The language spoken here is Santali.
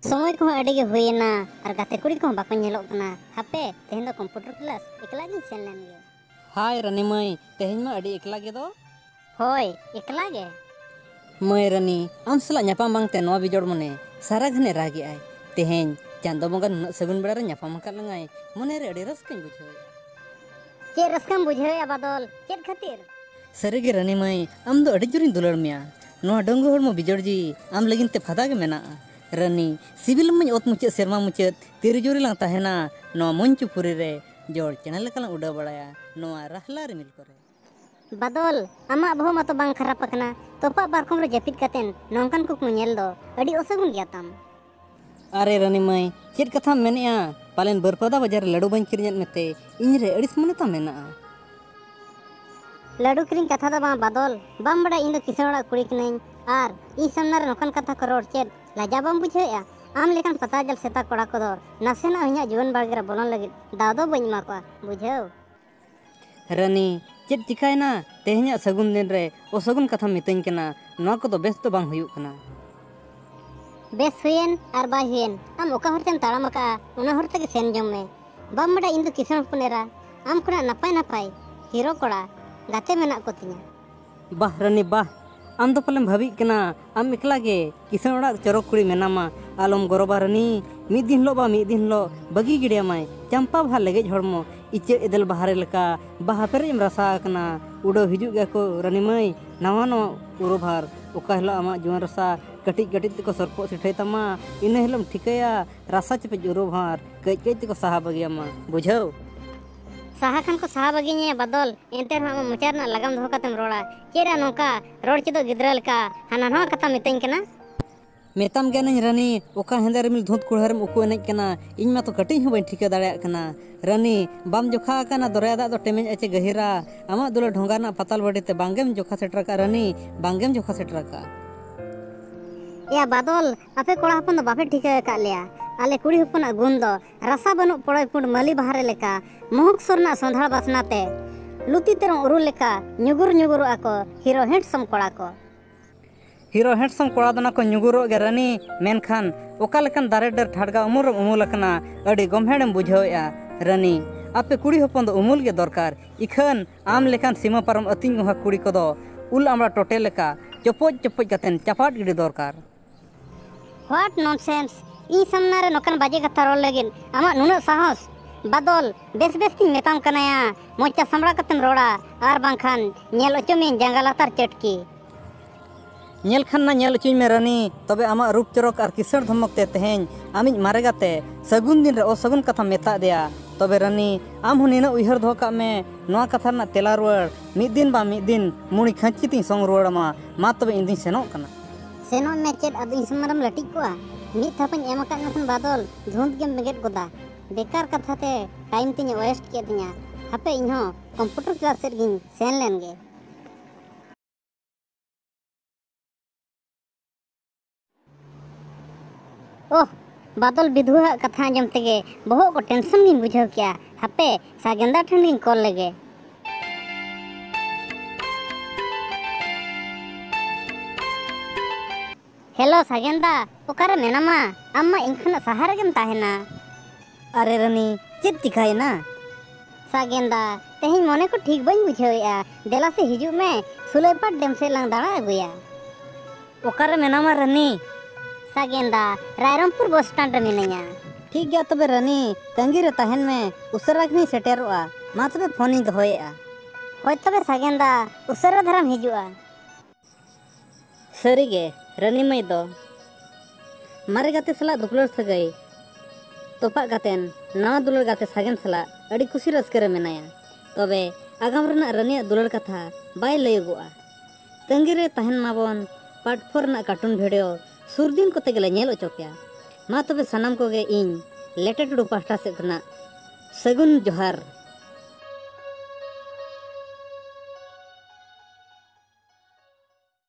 ᱥᱚᱢᱚᱭ ᱠᱚᱦᱚᱸ ᱟᱹᱰᱤ ᱜᱮ ᱦᱩᱭᱮᱱᱟ ᱟᱨ ᱜᱟᱛᱮ ᱠᱩᱲᱤ ᱠᱚᱦᱚᱸ ᱵᱟᱠᱚ ᱧᱮᱞᱚᱜ ᱠᱟᱱᱟ ᱦᱟᱯᱮ ᱛᱮᱦᱮᱧ ᱫᱚ ᱠᱚᱢᱯᱤᱭᱩᱴᱟᱨ ᱠᱞᱟᱥ ᱮᱠᱞᱟ ᱜᱤᱧ ᱥᱮᱱ ᱞᱮᱱ ᱜᱮ ᱦᱟᱭ ᱨᱟᱹᱱᱤ ᱢᱟᱹᱭ ᱛᱮᱦᱮᱧ ᱢᱟ ᱟᱹᱰᱤ ᱮᱠᱞᱟ ᱜᱮ ᱫᱚ ᱦᱳᱭ ᱮᱠᱞᱟ ᱜᱮ ᱢᱟᱹᱭ ᱨᱟᱹᱱᱤ ᱟᱢ ᱥᱟᱞᱟᱜ ᱧᱟᱯᱟᱢ ᱵᱟᱝᱛᱮ ᱱᱚᱣᱟ ᱵᱤᱡᱚᱲ ᱢᱚᱱᱮ ᱥᱟᱨᱟ ᱜᱷᱟᱱᱮ ᱨᱟᱜᱮᱜᱼᱟᱭ ᱛᱮᱦᱮᱧ ᱪᱟᱸᱫᱚ ᱵᱚᱸᱜᱟ ᱱᱩᱱᱟᱹᱜ ᱥᱟᱹᱜᱩᱱ ᱵᱮᱲᱟ ᱨᱮ ᱧᱟᱯᱟᱢ ᱟᱠᱟᱫ ᱞᱟᱝᱟᱭ ᱢᱚᱱᱮ ᱨᱮ ᱟᱹᱰᱤ ᱨᱟᱹᱥᱠᱟᱹᱧ ᱵᱩᱡᱷᱟᱹᱣᱮᱫᱼᱟ ᱪᱮᱫ ᱨᱟᱹᱥᱠᱟᱹᱢ ᱵᱩᱡᱷᱟᱹᱣᱮᱫᱼᱟ ᱵᱟᱫᱚᱞ ᱪᱮᱫ ᱠᱷᱟᱹᱛᱤᱨ ᱥᱟᱹᱨᱤ ᱜᱮ ᱨᱟᱹᱱᱤ ᱢᱟᱹᱭ ᱟᱢ ᱫᱚ ᱟᱹᱰᱤ ᱡᱳᱨᱤᱧ ᱫᱩᱞᱟᱹᱲ ᱢᱮᱭᱟ ᱱᱚᱣᱟ ᱰᱟᱹᱝᱜᱩ ᱦᱚᱲᱢᱚ ᱵᱤᱡᱚᱲ ᱡᱤᱣᱤ ᱟᱢ ᱞᱟᱹᱜᱤᱫ ᱛᱮ ᱯᱷᱟᱫᱟ ᱜᱮ ᱢᱮᱱᱟᱜᱼᱟ ᱨᱟᱹᱱᱤ ᱥᱤᱵᱤᱞ ᱟᱢᱟᱹᱧ ᱚᱛ ᱢᱩᱪᱟᱹᱫ ᱥᱮᱨᱢᱟ ᱢᱩᱪᱟᱹᱫ ᱛᱤᱨᱮ ᱡᱩᱨᱤ ᱞᱟᱝ ᱛᱟᱦᱮᱱᱟ ᱱᱚᱣᱟ ᱢᱚᱧᱪᱚᱯᱩᱨᱤ ᱨᱮ ᱡᱚᱲ ᱪᱮᱬᱮ ᱞᱮᱠᱟ ᱞᱟᱝ ᱩᱰᱟᱹᱣ ᱵᱟᱲᱟᱭᱟ ᱱᱚᱣᱟ ᱨᱟᱦᱞᱟ ᱨᱤᱢᱤᱞ ᱠᱚᱨᱮ ᱵᱟᱫᱚᱞ ᱟᱢᱟᱜ ᱵᱚᱦᱚᱜ ᱢᱟᱛᱚ ᱵᱟᱝ ᱠᱷᱟᱨᱟᱯ ᱟᱠᱟᱱᱟ ᱛᱚᱯᱟᱜ ᱯᱟᱨᱠᱚᱢ ᱨᱮ ᱡᱟᱹᱯᱤᱫ ᱠᱟᱛᱮᱱ ᱱᱚᱝᱠᱟᱱ ᱠᱩᱠᱢᱩ ᱧᱮᱞ ᱫᱚ ᱟᱹᱰᱤ ᱚᱥᱟᱹᱜᱩᱱ ᱜᱮᱭᱟ ᱛᱟᱢ ᱟᱨᱮ ᱨᱟᱹᱱᱤ ᱢᱟᱹᱭ ᱪᱮᱫ ᱠᱟᱛᱷᱟᱢ ᱢᱮᱱᱮᱜᱼᱟ ᱯᱟᱞᱮᱱ ᱵᱟᱹᱨᱯᱟᱫᱟ ᱵᱟᱡᱟᱨ ᱨᱮ ᱞᱟᱹᱰᱩ ᱵᱟᱹᱧ ᱠᱤᱨᱤᱧᱟᱫ ᱢᱮᱛᱮ ᱤᱧ ᱨᱮ ᱟᱹᱲᱤᱥ ᱢᱚᱱᱮ ᱛᱟᱢ ᱢᱮᱱᱟᱜᱼᱟ ᱞᱟᱹᱰᱩ ᱠᱤᱨᱤᱧ ᱠᱟᱛᱷᱟ ᱫᱚ ᱵᱟᱝ ᱵᱟᱫᱚᱞ ᱵᱟᱢ ᱵᱟᱲᱟᱭ ᱤᱧ ᱫᱚ ᱠᱤᱥᱟᱹᱬ ᱚᱲᱟᱜ ᱠᱩᱲᱤ ᱠᱟᱹᱱᱟᱹᱧ ᱟᱨ ᱤᱧ ᱥᱟᱢᱱᱟ ᱨᱮ ᱱᱚᱝᱠᱟᱱ ᱠᱟᱛᱷᱟ ᱠᱚ ᱨᱚᱲ ᱪᱮᱫ ᱞᱟᱡᱟ ᱵᱟᱢ ᱵᱩᱡᱷᱟᱹᱣᱮᱜᱼᱟ ᱟᱢ ᱞᱮᱠᱟᱱ ᱯᱟᱛᱟ ᱡᱟᱞ ᱥᱮᱛᱟ ᱠᱚᱲᱟ ᱠᱚᱫᱚ ᱱᱟᱥᱮᱱᱟᱜ ᱤᱧᱟᱹᱜ ᱡᱩᱣᱟᱹᱱ ᱵᱟᱲᱜᱮ ᱨᱮ ᱵᱚᱞᱚᱱ ᱞᱟᱹᱜᱤᱫ ᱫᱟᱣ ᱫᱚ ᱵᱟᱹᱧ ᱮᱢᱟ ᱠᱚᱣᱟ ᱵᱩᱡᱷᱟᱹᱣ᱾ ᱨᱟᱹᱱᱤ, ᱪᱮᱫ ᱪᱤᱠᱟᱹᱭᱮᱱᱟ? ᱛᱮᱦᱮᱧᱟᱜ ᱥᱟᱹᱜᱩᱱ ᱫᱤᱱ ᱨᱮ ᱚᱥᱟᱹᱜᱩᱱ ᱠᱟᱛᱷᱟᱢ ᱢᱤᱛᱟᱹᱧ ᱠᱟᱱᱟ᱾ ᱱᱚᱶᱟ ᱠᱚᱫᱚ ᱵᱮᱥ ᱫᱚ ᱵᱟᱝ ᱦᱩᱭᱩᱜ ᱠᱟᱱᱟ᱾ ᱵᱮᱥ ᱦᱩᱭᱮᱱ ᱟᱨ ᱵᱟᱭ ᱦᱩᱭᱮᱱ ᱟᱢ ᱚᱠᱟ ᱦᱚᱨ ᱛᱮᱢ ᱛᱟᱲᱟᱢ ᱟᱠᱟᱫᱼᱟ ᱚᱱᱟ ᱦᱚᱨ ᱛᱮᱜᱮ ᱥᱮᱱ ᱡᱚᱝ ᱢᱮ᱾ ᱵᱟᱢ ᱵᱟᱰᱟᱭᱟ ᱤᱧ ᱫᱚ ᱠᱤᱥᱟᱹᱬ ᱦᱚᱯᱚᱱ ᱮᱨᱟ ᱟᱢ ᱠᱷᱚᱱᱟᱜ ᱱᱟᱯᱟᱭ ᱱᱟᱯᱟᱭ ᱦᱤᱨᱳ ᱠᱚᱲᱟ ᱜᱟᱛᱮ ᱢᱮᱱᱟᱜ ᱠᱚ ᱛᱤᱧᱟ᱾ ᱵᱟᱦ ᱨᱟᱹᱱᱤ ᱵᱟᱦ ᱟᱢ ᱫᱚ ᱯᱟᱞᱮᱢ ᱵᱷᱟᱹᱵᱤᱜ ᱠᱟᱱᱟ ᱟᱢ ᱮᱠᱞᱟ ᱜᱮ ᱠᱤᱥᱟᱹᱬ ᱚᱲᱟᱜ ᱪᱚᱨᱚᱠ ᱠᱩᱲᱤ ᱢᱮᱱᱟᱢᱟ ᱟᱞᱚᱢ ᱜᱚᱨᱚᱵᱟ ᱨᱟᱹᱱᱤ ᱢᱤᱫ ᱫᱤᱱ ᱦᱤᱞᱳᱜ ᱵᱟ ᱢᱤᱫ ᱫᱤᱱ ᱦᱤᱞᱳᱜ ᱵᱟᱹᱜᱤ ᱜᱤᱰᱤᱭᱟᱢᱟᱭ ᱪᱟᱢᱯᱟ ᱵᱟᱦᱟ ᱞᱮᱜᱮᱡ ᱦᱚᱲᱢᱚ ᱤᱪᱟᱹᱜ ᱮᱫᱮᱞ ᱵᱟᱦᱟᱨᱮ ᱞᱮᱠᱟ ᱵᱟᱦᱟ ᱯᱮᱨᱮᱡ ᱮᱢ ᱨᱟᱥᱟ ᱟᱠᱟᱱᱟ ᱩᱰᱟᱹᱣ ᱦᱤᱡᱩᱜ ᱜᱮᱭᱟ ᱠᱚ ᱨᱟᱹᱱᱤ ᱢᱟᱹᱭ ᱱᱟᱣᱟ ᱱᱟᱣᱟ ᱩᱨᱩᱵᱷᱟᱨ ᱚᱠᱟ ᱦᱤᱞᱳᱜ ᱟᱢᱟᱜ ᱡᱩᱣᱟᱹᱱ ᱨᱟᱥᱟ ᱠᱟᱹᱴᱤᱡ ᱠᱟᱹᱴᱤᱡ ᱛᱮᱠᱚ ᱥᱚᱨᱯᱚᱜ ᱥᱤᱴᱷᱟᱹᱭ ᱛᱟᱢᱟ ᱤᱱᱟᱹ ᱦᱤᱞᱳᱜ ᱮᱢ ᱴᱷᱤᱠᱟᱹᱭᱟ ᱨᱟᱥᱟ ᱪᱮᱯᱮᱡ ᱩᱨᱩᱵᱷᱟᱨ ᱠᱟᱹᱡ ᱠᱟᱹᱡ ᱛᱮᱠᱚ ᱥᱟᱦᱟ ᱵᱟᱹᱜᱤᱭᱟᱢᱟ ᱵᱩᱡᱷᱟᱹᱣ ᱥᱟᱦᱟ ᱠᱷᱟᱱ ᱠᱚ ᱥᱟᱦᱟ ᱵᱟᱹᱜᱤ ᱧᱮᱭᱟ ᱵᱟᱫᱚᱞ ᱮᱱᱛᱮ ᱨᱮᱦᱚᱸ ᱟᱢᱟᱜ ᱢᱚᱪᱟ ᱨᱮᱱᱟᱜ ᱞᱟᱜᱟᱢ ᱫᱚᱦᱚ ᱠᱟᱛᱮᱢ ᱨᱚᱲᱟ ᱪᱮᱫ ᱨᱮ ᱱᱚᱝᱠᱟ ᱨᱚᱲ ᱪᱮᱫᱚᱜ ᱜᱤᱫᱽᱨᱟᱹ ᱞᱮᱠᱟ ᱦᱟᱱᱟ ᱱᱟᱣᱟ ᱠᱟᱛᱷᱟ ᱢᱤᱛᱟᱹᱧ ᱠᱟᱱᱟ ᱢᱮᱛᱟᱢ ᱠᱟᱹᱱᱟᱹᱧ ᱨᱟᱹᱱᱤ ᱚᱠᱟ ᱦᱮᱸᱫᱮ ᱨᱤᱢᱤᱞ ᱫᱷᱩᱸᱫ ᱠᱩᱲᱦᱟᱹ ᱨᱮᱢ ᱩᱠᱩ ᱮᱱᱮᱡ ᱠᱟᱱᱟ ᱤᱧ ᱢᱟᱛᱚ ᱠᱟᱹᱴᱤᱡ ᱦᱚᱸ ᱵᱟᱹᱧ ᱴᱷᱤᱠᱟᱹ ᱫᱟᱲᱮᱭᱟᱜ ᱠᱟᱱᱟ ᱨᱟᱹᱱᱤ ᱵᱟᱢ ᱡᱚᱠᱷᱟ ᱟᱠᱟᱱᱟ ᱫᱚᱨᱭᱟ ᱫᱟᱜ ᱫᱚ ᱴᱮᱢᱮᱧ ᱟᱪᱮ ᱜᱟᱹᱦᱤᱨᱟ ᱟᱢᱟᱜ ᱫᱩᱞᱟᱹᱲ ᱰᱷᱚᱸᱜᱟ ᱨᱮᱱᱟᱜ ᱯᱟᱛᱟᱞ ᱵᱟᱹᱰᱤ ᱛᱮ ᱵᱟᱝᱜᱮᱢ ᱡᱚᱠᱷᱟ ᱥᱮᱴᱮᱨ ᱟᱠᱟᱫ ᱨᱟᱹᱱᱤ ᱵᱟᱝᱜᱮᱢ ᱡᱚᱠᱷᱟ ᱥᱮᱴᱮᱨ ᱟᱠᱟᱫ ᱮᱭᱟ ᱵᱟᱫᱚᱞ ᱟᱯᱮ ᱠᱚᱲᱟ ᱦᱚᱯᱚᱱ ᱫᱚ ᱵᱟᱯᱮ ᱴᱷᱤᱠᱟᱹ ᱟᱠᱟᱫ ᱞᱮᱭᱟ ᱟᱞᱮ ᱠᱩᱲᱤ ᱦᱚᱯᱚᱱᱟᱜ ᱜᱩᱱ ᱫᱚ ᱨᱟᱥᱟ ᱵᱟᱹᱱᱩᱜ ᱯᱚᱲᱚᱭ ᱯᱩᱸᱰ ᱢᱟᱹᱞᱤ ᱵᱟᱦᱟᱨᱮ ᱞᱮᱠᱟ ᱢᱚᱦᱩᱠ ᱥᱩᱨ ᱨᱮᱱᱟᱜ ᱥᱚᱸᱫᱷᱟᱲ ᱵᱟᱥᱱᱟ ᱛᱮ ᱞᱩᱛᱤ ᱛᱮᱨᱚᱝ ᱩᱨᱩ ᱞᱮᱠᱟ ᱧᱩᱜᱩᱨ ᱧᱩᱜᱩᱨᱚᱜ ᱟᱠᱚ ᱦᱤᱨᱳ ᱦᱮᱸᱰᱥᱚᱢ ᱠᱚᱲᱟ ᱠᱚ ᱦᱤᱨᱳ ᱦᱮᱸᱰᱥᱚᱢ ᱠᱚᱲᱟ ᱫᱚ ᱱᱟᱠᱚ ᱧᱩᱜᱩᱨᱚᱜ ᱜᱮ ᱨᱟᱹᱱᱤ ᱢᱮᱱᱠᱷᱟᱱ ᱚᱠᱟ ᱞᱮᱠᱟᱱ ᱫᱟᱨᱮ ᱰᱟᱹᱨ ᱴᱷᱟᱰᱜᱟ ᱩᱢᱩᱞ ᱨᱮᱢ ᱩᱢᱩᱞ ᱟᱠᱟᱱᱟ ᱟᱹᱰᱤ ᱜᱚᱢᱦᱮᱲᱮᱢ ᱵᱩᱡᱷᱟᱹᱣᱮᱜᱼᱟ ᱨᱟᱹᱱᱤ ᱟᱯᱮ ᱠᱩᱲᱤ ᱦᱚᱯᱚᱱ ᱫᱚ ᱩᱢᱩᱞ ᱜᱮ ᱫᱚᱨᱠᱟᱨ ᱤᱠᱷᱟᱹᱱ ᱟᱢ ᱞᱮᱠᱟᱱ ᱥᱤᱢᱟᱹ ᱯᱟᱨᱚᱢ ᱟᱹᱛᱤᱧ ᱜᱚᱸᱜᱷᱟ ᱠᱩᱲᱤ ᱠᱚᱫᱚ ᱩᱞ ᱟᱢᱲᱟ ᱴᱚᱴᱮ ᱞᱮᱠᱟ ᱪᱚᱯᱚᱡ ᱪᱚᱯᱚᱡ ᱠᱟᱛᱮ ᱪᱟᱯᱟᱫ ᱜᱤᱰᱤ ᱫᱚᱨᱠᱟᱨ ᱦᱚᱴ ᱱᱚᱱᱥᱮᱱᱥ ᱤᱧ ᱥᱟᱢᱱᱟ ᱨᱮ ᱱᱚᱠᱟᱱ ᱵᱟᱡᱮ ᱠᱟᱛᱷᱟ ᱨᱚᱲ ᱞᱟᱹᱜᱤᱫ ᱟᱢᱟᱜ ᱱᱩᱱᱟᱹᱜ ᱥᱟᱦᱚᱥ ᱵᱟᱫᱚᱞ ᱵᱮᱥ ᱵᱮᱥ ᱛᱤᱧ ᱢᱮᱛᱟᱢ ᱠᱟᱱᱟᱭᱟ ᱢᱚᱪᱟ ᱥᱟᱢᱲᱟ ᱠᱟᱛᱮᱢ ᱨᱚᱲᱟ ᱟᱨ ᱵᱟᱝᱠᱷᱟᱱ ᱧᱮᱞ ᱚᱪᱚ ᱢᱤᱭᱟᱹᱧ ᱡᱟᱸᱜᱟ ᱞᱟᱛᱟᱨ ᱪᱟᱹᱴᱠᱤ ᱧᱮᱞ ᱠᱷᱟᱱ ᱢᱟ ᱧᱮᱞ ᱚᱪᱚᱧ ᱢᱮ ᱨᱟᱹᱱᱤ ᱛᱚᱵᱮ ᱟᱢᱟᱜ ᱨᱩᱯ ᱪᱚᱨᱚᱠ ᱟᱨ ᱠᱤᱥᱟᱹᱬ ᱫᱷᱚᱢᱚᱠ ᱛᱮ ᱛᱮᱦᱮᱧ ᱟᱢᱤᱡ ᱢᱟᱨᱮ ᱜᱟᱛᱮ ᱥᱟᱹᱜᱩᱱ ᱫᱤᱱ ᱨᱮ ᱚᱥᱟᱹᱜᱩᱱ ᱠᱟᱛᱷᱟᱢ ᱢᱮᱛᱟ ᱟᱫᱮᱭᱟ ᱛᱚᱵᱮ ᱨᱟᱹᱱᱤ ᱟᱢ ᱦᱚᱸ ᱱᱤᱱᱟᱹᱜ ᱩᱭᱦᱟᱹᱨ ᱫᱚᱦᱚ ᱠᱟᱜ ᱢᱮ ᱱᱚᱣᱟ ᱠᱟᱛᱷᱟ ᱨᱮᱱᱟᱜ ᱛᱮᱞᱟ ᱨᱩᱣᱟᱹᱲ ᱢᱤᱫ ᱫᱤᱱ ᱵᱟᱝ ᱢᱤᱫ ᱫᱤᱱ ᱢᱩᱬᱤ ᱠᱷᱟᱹᱧᱪᱤ ᱛᱤᱧ ᱥᱚᱝ ᱨᱩᱣᱟᱹᱲ ᱟᱢᱟ ᱢᱟ ᱛᱚᱵᱮ ᱤᱧ ᱫᱩᱧ ᱥᱮᱱᱚᱜ ᱠᱟᱱᱟ ᱥᱮᱱᱚᱜ ᱢᱮ ᱪᱮᱫ ᱟᱫᱚ ᱤᱧ ᱥᱚᱢᱟᱱ ᱨᱮᱢ ᱞᱟᱹᱴᱤᱡ ᱠᱚᱜᱼᱟ ᱢᱤᱫ ᱛᱷᱟᱯᱟᱹᱧ ᱮᱢ ᱟᱠᱟᱫ ᱢᱮᱠᱷᱟᱱ ᱵᱟᱫᱚᱞ ᱫᱷᱩᱸᱛ ᱜᱮᱢ ᱵᱮᱸᱜᱮᱫ ᱜᱚᱫᱟ ᱵᱮᱠᱟᱨ ᱠᱟᱛᱷᱟ ᱛᱮ ᱴᱟᱭᱤᱢ ᱛᱤᱧ ᱳᱭᱮᱥᱴ ᱠᱮᱫ ᱛᱤᱧᱟ ᱦᱟᱯᱮ ᱤᱧ ᱦᱚᱸ ᱠᱚᱢᱯᱤᱭᱩᱴᱟᱨ ᱠᱞᱟᱥ ᱥᱮᱫ ᱜᱤᱧ ᱥᱮᱱ ᱞᱮᱱ ᱜᱮ ᱳᱦ ᱵᱟᱫᱚᱞ ᱵᱤᱫᱷᱩᱣᱟᱜ ᱠᱟᱛᱷᱟ ᱟᱸᱡᱚᱢ ᱛᱮᱜᱮ ᱵᱚᱦᱚᱜ ᱠᱚ ᱴᱮᱱᱥᱚᱱ ᱜᱤᱧ ᱵᱩᱡᱷᱟᱹᱣ ᱠᱮᱜᱼᱟ ᱦᱟᱯᱮ ᱥᱟᱜᱮᱱᱫᱟ ᱴᱷᱮᱱ ᱜᱤᱧ ᱠᱚᱞ ᱞᱮᱜᱮ ᱦᱮᱞᱳ ᱥᱟᱜᱮᱱ ᱫᱟ ᱚᱠᱟᱨᱮ ᱢᱮᱱᱟᱢᱟ ᱟᱢ ᱢᱟ ᱤᱧ ᱠᱷᱚᱱᱟᱜ ᱥᱟᱦᱟ ᱨᱮᱜᱮᱢ ᱛᱟᱦᱮᱱᱟ ᱟᱨᱮ ᱨᱟᱹᱱᱤ ᱪᱮᱫ ᱪᱤᱠᱟᱹᱭᱮᱱᱟ ᱥᱟᱜᱮᱱ ᱫᱟ ᱛᱮᱦᱮᱧ ᱢᱚᱱᱮ ᱠᱚ ᱴᱷᱤᱠ ᱵᱟᱹᱧ ᱵᱩᱡᱷᱟᱹᱣᱮᱫᱼᱟ ᱫᱮᱞᱟ ᱥᱮ ᱦᱤᱡᱩᱜ ᱢᱮ ᱥᱩᱞᱟᱹᱭᱯᱟᱴ ᱰᱮᱢ ᱥᱮᱫ ᱞᱟᱝ ᱫᱟᱬᱟ ᱟᱹᱜᱩᱭᱟ ᱚᱠᱟᱨᱮ ᱢᱮᱱᱟᱢᱟ ᱨᱟᱹᱱᱤ ᱥᱟᱜᱮᱱᱫᱟ ᱨᱟᱭᱨᱚᱢᱯᱩᱨ ᱵᱚᱥ ᱥᱴᱮᱱᱰ ᱨᱮ ᱢᱤᱱᱟᱹᱧᱟ ᱴᱷᱤᱠ ᱜᱮᱭᱟ ᱛᱚᱵᱮ ᱨᱟᱹᱱᱤ ᱛᱟᱺᱜᱤ ᱨᱮ ᱛᱟᱦᱮᱱ ᱢᱮ ᱩᱥᱟᱹᱨᱟ ᱜᱮᱧ ᱥᱮᱴᱮᱨᱚᱜᱼᱟ ᱢᱟ ᱛᱚᱵᱮ ᱯᱷᱳᱱᱤᱧ ᱫᱚᱦᱚᱭᱮᱫᱼᱟ ᱦᱳᱭ ᱛᱚᱵᱮ ᱥᱟᱜᱮᱱᱫᱟ ᱩᱥᱟᱹᱨᱟ ᱫᱷᱟᱨᱟᱢ ᱦᱤᱡᱩᱜᱼᱟ ᱥᱟᱹᱨᱤᱜᱮ ᱨᱟᱹᱱᱤ ᱢᱟᱹᱭ ᱫᱚ ᱢᱟᱨᱮ ᱜᱟᱛᱮ ᱥᱟᱞᱟᱜ ᱫᱩᱯᱞᱟᱹᱲ ᱥᱟᱹᱜᱟᱹᱭ ᱛᱚᱯᱟᱜ ᱠᱟᱛᱮᱱ ᱱᱟᱣᱟ ᱫᱩᱞᱟᱹᱲ ᱜᱟᱛᱮ ᱥᱟᱜᱮᱱ ᱥᱟᱞᱟᱜ ᱟᱹᱰᱤ ᱠᱩᱥᱤ ᱨᱟᱹᱥᱠᱟᱹ ᱨᱮ ᱢᱮᱱᱟᱭᱟ ᱛᱚᱵᱮ ᱟᱜᱟᱢ ᱨᱮᱱᱟᱜ ᱨᱟᱹᱱᱤᱭᱟᱜ ᱫᱩᱞᱟᱹᱲ ᱠᱟᱛᱷᱟ ᱵᱟᱭ ᱞᱟᱹᱭᱚᱜᱚᱜᱼᱟ ᱛᱟᱺᱜᱤ ᱨᱮ ᱛᱟᱦᱮᱱ ᱢᱟᱵᱚᱱ ᱯᱟᱨᱴ ᱯᱷᱳᱨ ᱨᱮᱱᱟᱜ ᱠᱟᱨᱴᱩᱱ ᱵᱷᱤᱰᱤᱭᱳ ᱥᱩᱨ ᱫᱤᱱ ᱠᱚᱛᱮ ᱜᱮᱞᱮ ᱧᱮᱞ ᱚᱪᱚ ᱯᱮᱭᱟ ᱢᱟ ᱛᱚᱵᱮ ᱥᱟᱱᱟᱢ ᱠᱚᱜᱮ ᱤᱧ ᱞᱮᱴᱮ ᱴᱩᱰᱩ ᱯᱟᱦᱴᱟ ᱥᱮᱫ ᱠᱷᱚᱱᱟᱜ ᱥᱟᱹᱜᱩᱱ ᱡᱚᱦᱟᱨ